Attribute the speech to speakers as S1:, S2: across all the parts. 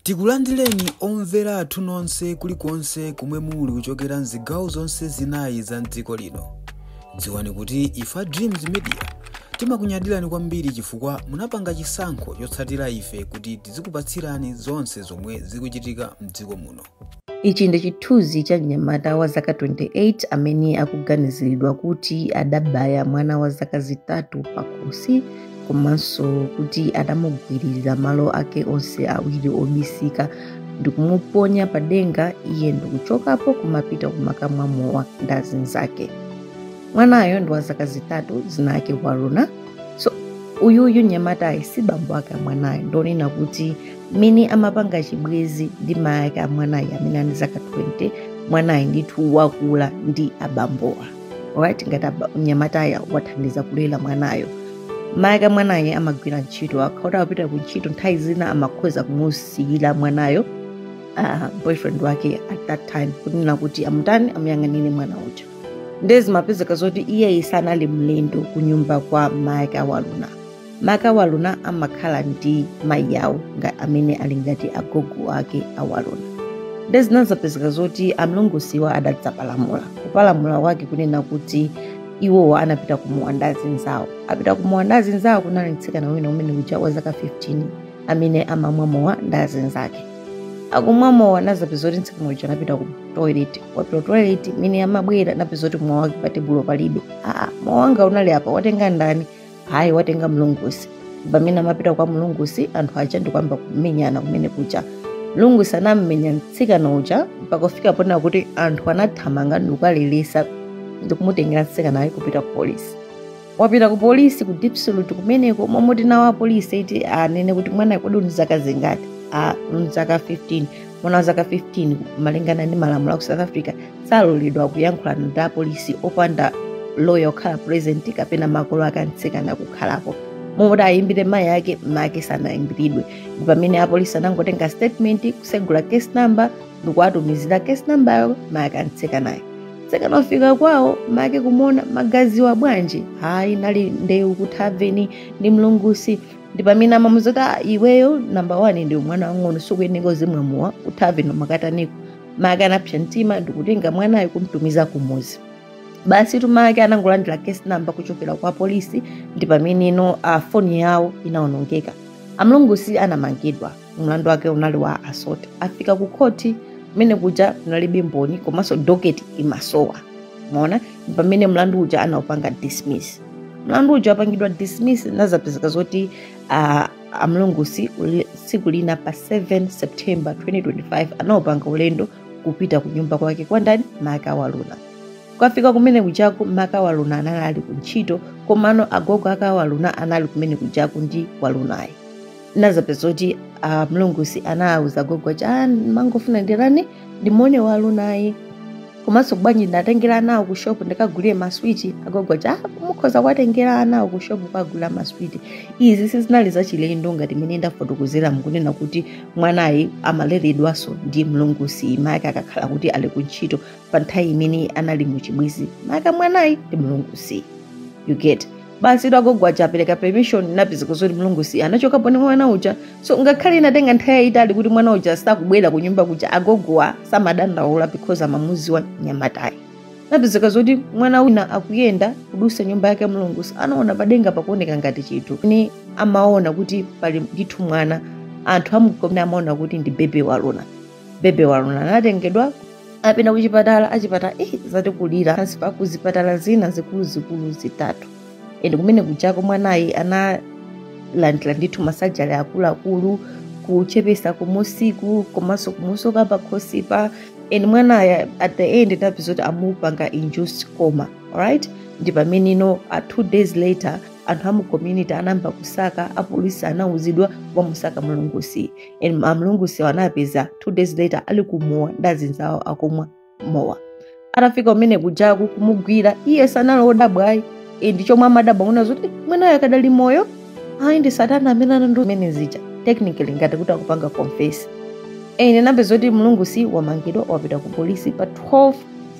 S1: Tikulandireni omvera athu nonse kulikonse komwe muli kuchokera mzigawo zonse zinayi za mdziko lino. Dziwani kuti ife a Dreams Media timakunyadirani kwambiri chifukwa munapanga chisankho chotsatira ife kuti tizikupatsirani zonse zomwe zikuchitika mdziko muno. Ichi
S2: ndi chithunzi cha mnyamata wa zaka 28 amene akuganiziridwa kuti adabaya mwana wa zaka zitatu pakhosi komanso kuti adamugwirira malo ake onse awiri obisika ndikumuponya pa denga iye ndikuchokapo kumapita kumakamwa mowa ndi azinzake mwanayo ndi wa zaka zitatu zina ake waruna so uyuyu nyamatayi si bambo ake mwanayo ndonena kuti mmene amapanga chibwezi ndi mayi ake amwanayo amene ali ndi zaka 20 mwanayo ndithu wakula ndi abambowa alright ngati aba- mnyamatayo wathandiza kulera mwanayo mayi ake mwanayo amagwira ntchito akhauta akupita ku ntchito nthawi zina amakhoza kumusiyira mwanayo uh, boyfriend wake at that time kunena kuti amutani amuyang'anire mwana uja nde zimapezeka zoti iyeyi sanali mlendo kunyumba kwa mayi ake awaruna make waruna amakhala ndi mayi awo nga amene ali ngati agogo ake a waruna nde zinazapezeka zoti amlungusiwa adadzapalamula kupalamula wake kunena kuti iwowo anapita kumowa ndi azinzawo apita kumowa ndi azinzawo kunali mtsikana wina kumene kuja wa zaka 15 amene amamwa mowa ndi azinzake akumwa mowa anazapeza kuti mtsikana uja anapita ku toilet wapita toilet mmene amabwera anapeza kuti mowa wake pa tebulo palibe aa mowa wanga unali apa watenga ndani hayi watenga mlungusi pamene amapita kwa mlungusi anthu aja ndikuyamba kumenyana kumene kuja mlungusi anammenya mtsikana uja mpaka kufika pona kuti anthu anathamanga ndikukaleretsa ndikumutengera mtsikanayo kupita ku polisi wapita ku polisi ku Diepsloot kumeneko momoti nawo apolisi iti anene kuti mwana kodi uli ndi zaka zingati a ndili ndi zaka 15 mwana wa zaka 15 malingana ndi malamulo a ku south africa saloledwa kuyankhula ndi apolisi opanda loya okhala present kapena makolo ake amtsikana kukhalapo momoti ayimbire mayi ake make sanayimbiridwe ndi pamene apolisi anangotenga statement kusegula case number ndikuwatumizira case number yawo make amtsikanayo mtsikana wafika kwawo make kumona magazi wabwanji hayi nali ndewu kuthaveni ndi mlungusi ndi pamene amamuuza kuti "Ah, iweyo namba one ndiwe mwana wang'ono sukuyeneka uzimwa mowa kuthaveni ukataniko make anapsa mtima ndikutenga mwanayo kumtumiza kumuzi basi tumake anangolandira case number kuchokera kwa polisi ndi pameneno foni yawo inaonongeka amlungusi anamangidwa mlandu wake unali wa assault afika ku khoti kumene kuja kunalibe mboni komanso docket imasowa mona pamene mlandu uja anaupanga dismiss mlandu uja wapangidwa dismiss nazapezeka zoti uh, amlungusi tsiku lina pa 7 september 2025 anaupanga ulendo kupita ku nyumba kwake kwa ndani maka waluna kwafika kumene kujaku maka waluna anali ali ku ntchito komano agogo ake waluna anali kumene kujaku ndi walunayi nazapeza kuti a mlungusi anawuza gogo aja "Ah, mangofuna ndirani ndimone walunayi komanso bwanji ndatengera anawo ku shopu ndikagulire maswiti agogo aja "Ah, mukhoza kuwatengera anawo ku shopu kuwagulira maswiti izi sizinali zachilendo ngati mmene ndafotokozera mukunena kuti mwanayi amaleredwanso ndi mlungusi mayake akakhala kuti ali ku ntchito pa nthawi imene anali mu chibwezi mayake mwanayi ndi mlungusi you get basitu agogo aja apereka permission napezeka zoti mlungusi anachokapo ndi mwana uja so ngakhale inatenga nthawi yayitali kuti mwana uja sakubwera ku nyumba kuja agogowa samadandaula because amamuziwa nyamatayi napezeka zoti mwana wina akuyenda kudusa nyumba yake mlungusi anaona padenga pakuoneka ngati chinthu ni amaona kuti pali ndithu mwana anthu amu community amaona kuti ndi bebe waluna bebe waluna anatengedwa apita kuchipatala achipatala eh, zatikulira pansi pa kuzipatala zina zikuluzikulu zitatu ende kumene kujako mwanayi analandira ndithu ma surgery akuluakulu kuchepesa kumusiku komanso kumusoka pakhosipa ende mwanayi at the end napeza kuti amupanga induced coma alright ndi pameneno a two days later anthu amu community anayamba kusaka apolisi anauzidwa wamusaka mlungusi and amlungusiwa anapeza two days later ali kumowa ndi azinzawo akumwa mowa atafika kumene kujaku kumugwira iye sanali odabwa ayi ndi chomwe amadabwa kuona zoti mwanayo akadali moyo ayi ndi satana amene anandi umene zija technically ngati kuti akupanga confess ende napeza zoti mlungusi wamangidwa wapita ku polisi pa 12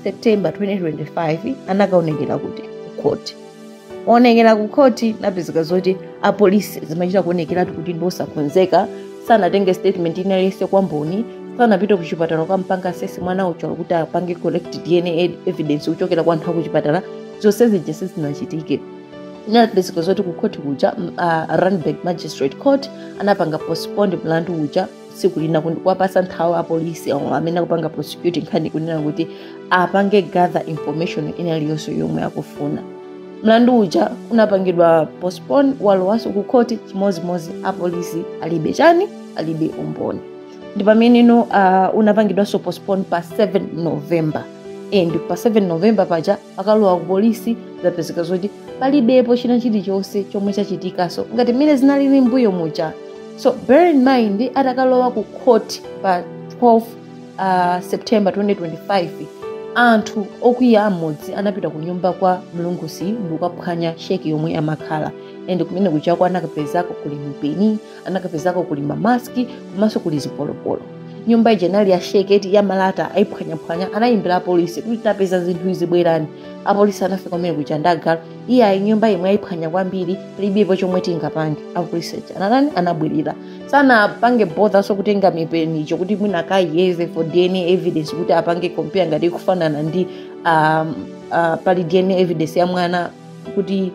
S2: september 2025 anakaonekera kuti ku court onekera ku khoti napezeka zoti apolisi zimachita kuonekeratu kuti ndi osakonzeka sanatenge statement ina iliyonse kwa mboni sanapite ku chipatala kukampanga assess mwana uja kuti apange collect dna evidence kuchokera kwa anthu a ku chipatala zonse zija sizinachitike inapezeka zoti ku khoti kuja uh, randburg magistrate court anapanga postpone mlandu uja tsiku lina kuwapasa nthawi apolisi awo amene akupanga prosecute nkhani kunena kuti apange gather information ina iliyonse yomwe akufuna mlandu uja unapangidwa postpone walowanso ku khoti chimodzimodzi apolisi alibe chani alibe umboni ndi pameneno uh, unapangidwanso postpone pa 7 november and pa 7 november paja akalowa ku polisi zapezeka zoti palibepo china chilichonse chomwe chachitikaso ngati mmene zinalili mbuyo muja so bear in mind atakalowa ku court pa 12 uh, september 2025 anthu okwiya amodzi anapita ku nyumba kwa mlungusi ndikukaphwanya sheki yomwe amakhala and kumene kujako anakapezako kuli mipeni anakapezako kuli mamaski komanso kuli zipolopolo nyumba ija inali ya sheki eti ya malata ayiphwanyaphwanya anayimbira apolisi kuti tapeza zinthu izi bwerani apolisi anafika kumene kuja ndagala iye ayi nyumba imwe ayiphwanya kwambiri palibepo chomwe tingapange apolisi anatani anabwerera sanapange bother so kutenga mipeni ija kuti mwina akayeze for dna evidence kuti apange compare ngati ikufanana ndi um, uh, pali dna evidence ya mwana kuti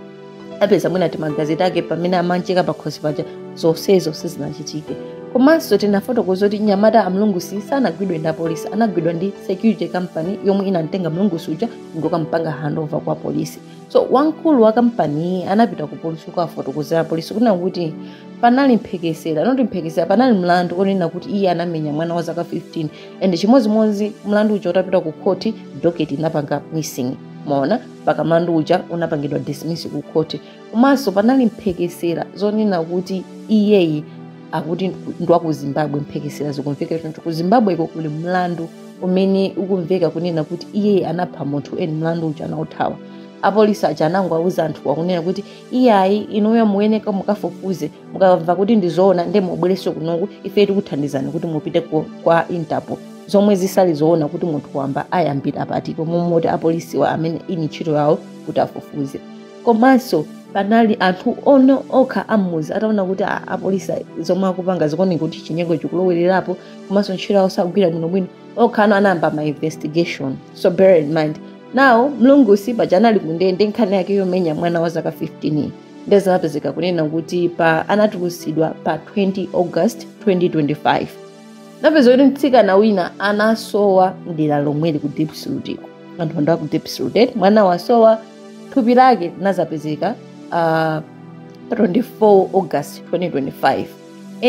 S2: apeza mwina timagazi take pamene amancheka pakhosi paja zonsezo sizinachitike komanso tinafotokoza kuti mnyamata a mlungusi sanagwidwe ndi apolisi anagwidwa ndi security company yomwe inamtenga mlungusi uja ndikukampanga handover kwa polisi so wamkulu wa kampaniyi anapita ku polisi kukafotokozera polisi kunena kuti panali mphekesera not mphekesera panali mlandu onena kuti iye anamenya mwana wa zaka 15 and chimodzimodzi mlandu uja utapita ku khoti doketi inapanga missing maona mpaka mlandu uja unapangidwa dismiss ku khoti komanso panali mphekesera zonena kuti iyeyi akuti ndwa ku zimbabwe mphekesera zikumveka choncho ku zimbabweko kuli mlandu umene ukumveka kunena kuti iyeyi anapha munthu and mlandu uja anauthawa apolisi aja anango auza anthuwa kunena kuti iyayi inuyo muyeneka mukafufuze mukamva kuti ndizoona nde mubwerenso kunoku ife tikuthandizani kuti mupite ku- kwa interpol zomwe sizili zoona kuti munthu wamba ayambira pati pomwe apolisiwa amene ndi ntchito yawo kuti afufuze komanso panali anthu ono okha ammuzi ataona kuti a- apolisi zomwe akupanga zikuoneka kuti chinyengo chikulowererapo komanso ntchito yawo sakugwira bwinobwino okha ano anayamba ma investigation so bear in mind now mlungusi paja anali kundende nkhani yake yomenya mwana wa zaka 15 ndiye zinapezeka kunena kuti pa anatulusidwa pa 20 august 2025 napeza kuti mtsikana wina anasowa mdera lomweli ku Diepsloot. anthu anadabwa ku Diepsloot, mwana wasowa thupi lake linazapezeka uh, 24 august 2025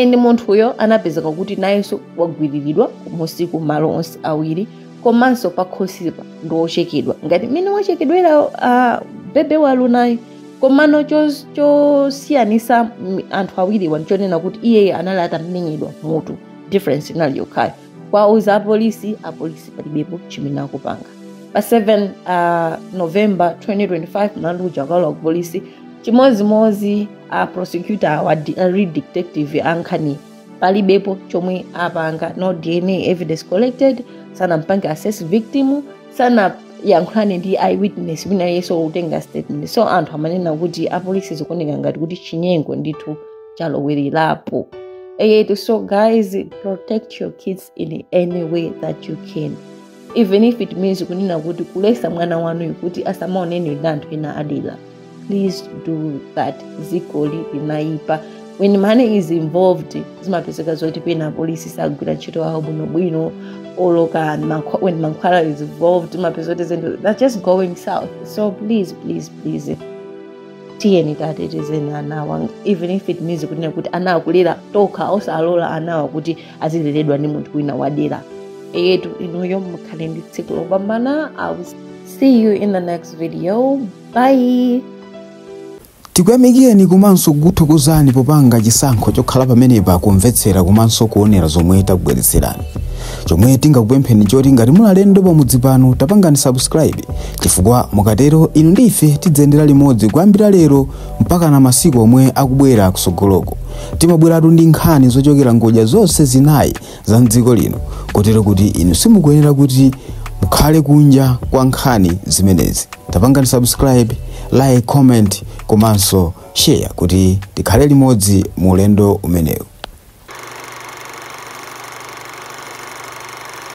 S2: and munthuyo anapezeka kuti nayenso wagwiriridwa kumusi ku malo onse awiri komanso pakhosipa ndi wochekedwa ngati mmene wachekedwera uh, bebe walunayo komano chos- chosiyanisa mm, anthu awiriwa ndichonena kuti iyeyo anali atamenyedwa mmutu difference inali yokhayo kuwauza apolisi apolisi palibepo chimene akupanga pa 7 uh, november 2025 mlandu uja ukalowa kupolisi chimodzimodzi a prosecutor awa di- a lead detective ankhani palibepo chomwe apanga no dna evidence collected sanampange assess victim sanayankhulane ndi eyewitness wina aliyense kutenga statement so anthu amanena kuti apolisi zikuoneka ngati kuti chinyengo ndithu chalowelerapo eyetu so guys protect your kids in any way that you can even if it means kunena kuti kuletsa mwana wanu kuti asamaonane ndi anthu ena adera please do that dzikoli linaipa when money is involved zimapezeka zoti pena apolisi sagwira ntchito yawo bwinobwino oloka when mankhwala is involved zimapezeka zoti zinthu that's just going south so please please please tiyeni tatetezeni anawa even if it means kunena kuti anawa kulera tokha osalola anawa kuti azileredwa ndi munthu wina wadera eyetu inuyo mukhale ndi tsiku lopambana i will see you in the next video
S1: bye tikuyamikireni komanso kukuthokozani popanga chisankho chokhala pamenepa kumvetsera komanso kuonera zomwe takubweretserani chomwe tingakupempheni choti ngati muli alendo pamudzi pano tapangani subscribe chifukwa mukatero inu ndi ife tidzayendera limodzi kuyambira lero mpakana masiku omwe akubwera kutsogoloko timabweratu ndi nkhani zochokera ngodya zonse zinayi za mdziko lino kotero kuti inu simukuyenera kuti mukhale kunja kwa nkhani zimenezi tapangani subscribe like comment komanso share kuti tikhale limodzi mu ulendo umenewu